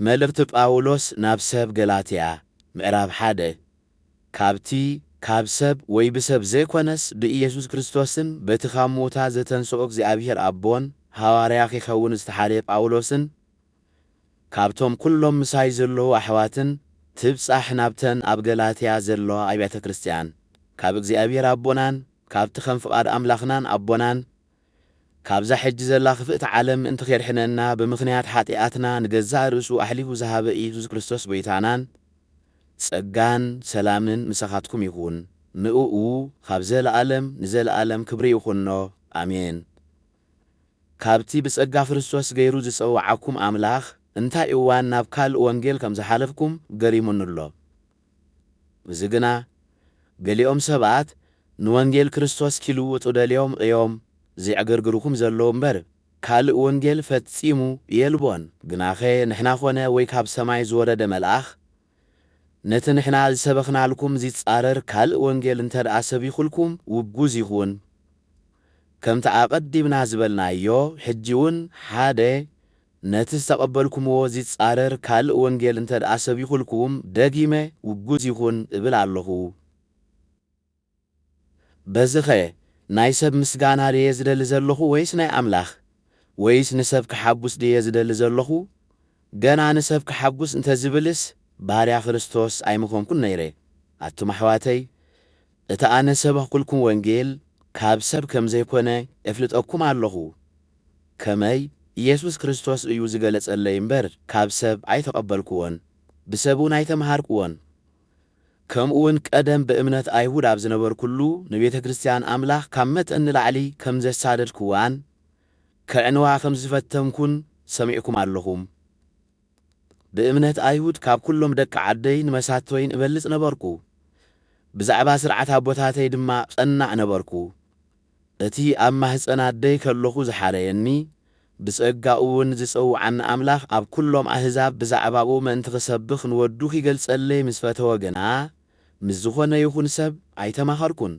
መልእኽቲ ጳውሎስ ናብ ሰብ ገላትያ ምዕራፍ ሓደ ካብቲ ካብ ሰብ ወይ ብሰብ ዘይኮነስ ብኢየሱስ ክርስቶስን በቲ ካብ ምዉታት ዘተንሥኦ እግዚኣብሔር ኣቦን ሃዋርያ ኺከውን ዝተሓርየ ጳውሎስን ካብቶም ኵሎም ምሳይ ዘለዉ ኣሕዋትን ትብጻሕ ናብተን ኣብ ገላትያ ዘለዋ ኣብያተ ክርስትያን ካብ እግዚኣብሔር ኣቦናን ካብቲ ከም ፍቓድ ኣምላኽናን ኣቦናን ካብዛ ሕጂ ዘላ ክፍእቲ ዓለም ምእንቲ ኼድሕነና ብምኽንያት ሓጢኣትና ንገዛእ ርእሱ ኣሕሊፉ ዝሃበ ኢየሱስ ክርስቶስ ጐይታናን ጸጋን ሰላምን ምሳኻትኩም ይኹን ንእኡ ኻብ ዘለኣለም ንዘለኣለም ክብሪ ይኹኖ ኣሜን ካብቲ ብጸጋ ክርስቶስ ገይሩ ዝጸውዓኩም ኣምላኽ እንታይ እዋን ናብ ካልእ ወንጌል ከም ዝሓለፍኩም ገሪሙኒ ኣሎ እዚ ግና ገሊኦም ሰባት ንወንጌል ክርስቶስ ኪልውጡ ደልዮም እዮም ዜዕገርግሩኹም ዘለዉ እምበር፣ ካልእ ወንጌል ፈጺሙ የልቦን። ግናኸ ንሕና ዀነ ወይ ካብ ሰማይ ዝወረደ መልኣኽ፣ ነቲ ንሕና ዝሰበኽናልኩም ዚጻረር ካልእ ወንጌል እንተ ደኣ ሰቢኹልኩም፣ ውጉዝ ይኹን። ከምቲ ኣቐዲምና ዝበልናዮ፣ ሕጂውን ሓደ ነቲ ዝተቐበልኩምዎ ዚጻረር ካልእ ወንጌል እንተ ደኣ ሰቢኹልኩም፣ ደጊመ ውጉዝ ይኹን እብል ኣሎኹ። በዚኸ ናይ ሰብ ምስጋና ደየ ዝደሊ ዘሎኹ ወይስ ናይ ኣምላኽ? ወይስ ንሰብ ከሓጉስ ደየ ዝደሊ ዘሎኹ? ገና ንሰብ ከሓጉስ እንተ ዝብልስ፣ ባርያ ክርስቶስ ኣይምኾንኩን ነይረ። ኣቱም ኣሕዋተይ! እቲ ኣነ ዝሰበኽኩልኩም ወንጌል ካብ ሰብ ከም ዘይኮነ ኤፍልጠኩም ኣሎኹ፣ ከመይ ኢየሱስ ክርስቶስ እዩ ዝገለጸለይ እምበር ካብ ሰብ ኣይተቐበልኩዎን፣ ብሰብውን ኣይተመሃርኩዎን። ከምኡውን ቀደም ብእምነት ኣይሁድ ኣብ ዝነበርኩሉ ንቤተ ክርስትያን ኣምላኽ ካብ መጠን ንላዕሊ ከም ዘሳደድኩዋን ከዕንዋ ከም ዝፈተንኩን ሰሚዕኩም ኣሎኹም። ብእምነት ኣይሁድ ካብ ኵሎም ደቂ ዓደይን መሳቶይን እበልጽ ነበርኩ፣ ብዛዕባ ስርዓት ኣቦታተይ ድማ ቐናእ ነበርኩ። እቲ ኣብ ማህጸን ኣደይ ከሎኹ ዝሓረየኒ፣ ብጸጋኡውን ዝጸውዓኒ ኣምላኽ ኣብ ኵሎም ኣህዛብ ብዛዕባኡ ምእንቲ ኽሰብኽ ንወዱ ኺገልጸለይ ምስ ፈተወ ግና፣ ምስ ዝዀነ ይኹን ሰብ ኣይተማኸርኩን፣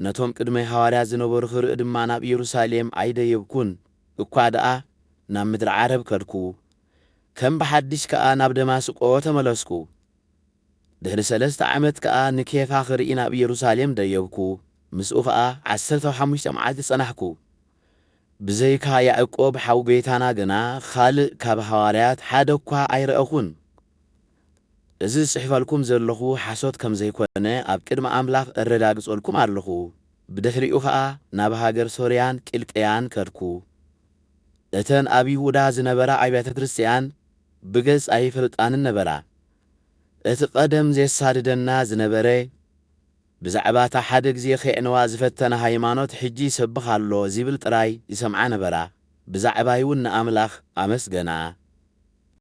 ነቶም ቅድመይ ሃዋርያት ዝነበሩ ኽርኢ ድማ ናብ ኢየሩሳሌም ኣይደየብኩን። እኳ ደኣ ናብ ምድሪ ዓረብ ከድኩ፣ ከም ብሓድሽ ከኣ ናብ ደማስቆ ተመለስኩ። ድሕሪ ሰለስተ ዓመት ከኣ ንኬፋ ክርኢ ናብ ኢየሩሳሌም ደየብኩ፣ ምስኡ ኸኣ ዓሰርተው ሓሙሽተ መዓልቲ ጸናሕኩ። ብዘይካ ያእቆብ ሓው ጐይታና ግና ኻልእ ካብ ሃዋርያት ሓደ እኳ ኣይረእኹን። እዚ ዝጽሕፈልኩም ዘለኹ ሓሶት ከም ዘይኮነ ኣብ ቅድሚ ኣምላኽ እረጋግጸልኩም ኣለኹ። ብድሕሪኡ ኸኣ ናብ ሃገር ሶርያን ቂልቅያን ከድኩ። እተን ኣብ ይሁዳ ዝነበራ ኣብያተ ክርስትያን ብገጽ ኣይፈልጣንን ነበራ። እቲ ቐደም ዜሳድደና ዝነበረ፣ ብዛዕባ እታ ሓደ ግዜ ኼዕንዋ ዝፈተና ሃይማኖት ሕጂ ይሰብኽ ኣሎ ዚብል ጥራይ ይሰምዓ ነበራ፣ ብዛዕባይውን ንኣምላኽ ኣመስገና።